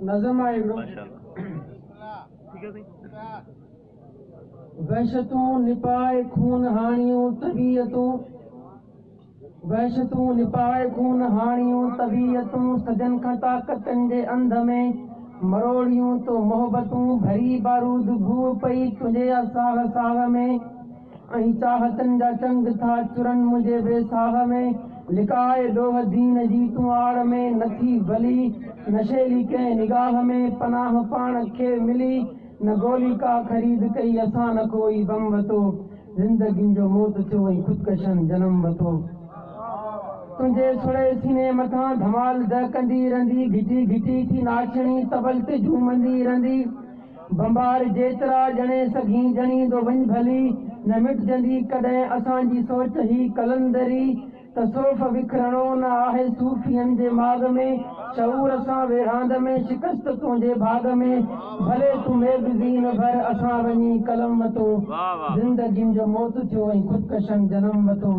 نظم آهي هڪڙو. وحشتون نپائي خون هاڻيون طبيعتون وحشتون نپائي خون هاڻيون طبيعتون صدين کان طاقتن جي انڌ ۾ مروڙيون تو محبتون ڀري بارود گوء پئي تنهنجي ساهه ساهه ۾. ۽ چاهتن جا چنگ ٿا چرن منهنجي ويساهه ۾، لڪاء ڏوهه دين جي تون آڙ ۾ نه ٿي ڀلي، نه شيلي ڪنهن نگاهه ۾ پناهه پاڻ کي ملي، نه گولي ڪا خريد ڪئي اسان نه ڪو ئي بم وتو، زندگين جو موت ٿيو ۽ خودڪشن جنم وتو، تنهنجي سڙي سيني مٿان ڌمال دهڪندي رهندي، گهٽي گهٽي ٿي ناچڻي طبل تي جهومندي رهندي. ڀنڀار جيترا ڄڻي سگهين ڄڻيندو وڃ ڀلي نه مٽجندي ڪڏهن اسان جي سوچ هي قلندري تصوف وکرڻو نه آهي صوفين جي ماڳ ۾ شعور سان ويڙهاند ۾ شڪست تنهنجي ڀاڳ ۾ ڀلي تون ميگزين ڀر اسان وڃي قلم وتو زندگين جو موت ٿيو ۽ خودڪشن جنم وتو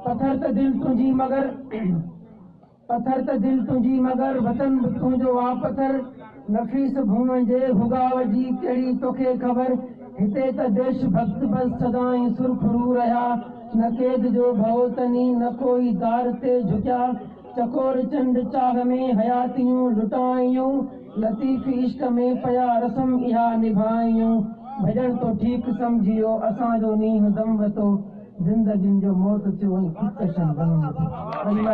پٿر ته دل تنهنجي مگر پٿر ته دل تنهنجي مگر وطن به تنهنجو آ پٿر نفيس ڀونء جي ڀڳاء جي ڪهڙي توکي خبر هتي ته ديش ڀڳت بس سدائين سرخرو رهيا نه قيد جو ڀئو تني نه ڪوئي دار تي جهڪيا چڪور چنڊ چاهه ۾ حياتيون لٽائيون لطيف عشق ۾ پيا رسم اها نڀائيون ڀڄڻ تو ٺيڪ سمجهيو اسان جو نينهن دم وتو زندگين جو موت ٿيو ۽ خودڪشن بنين ٿيا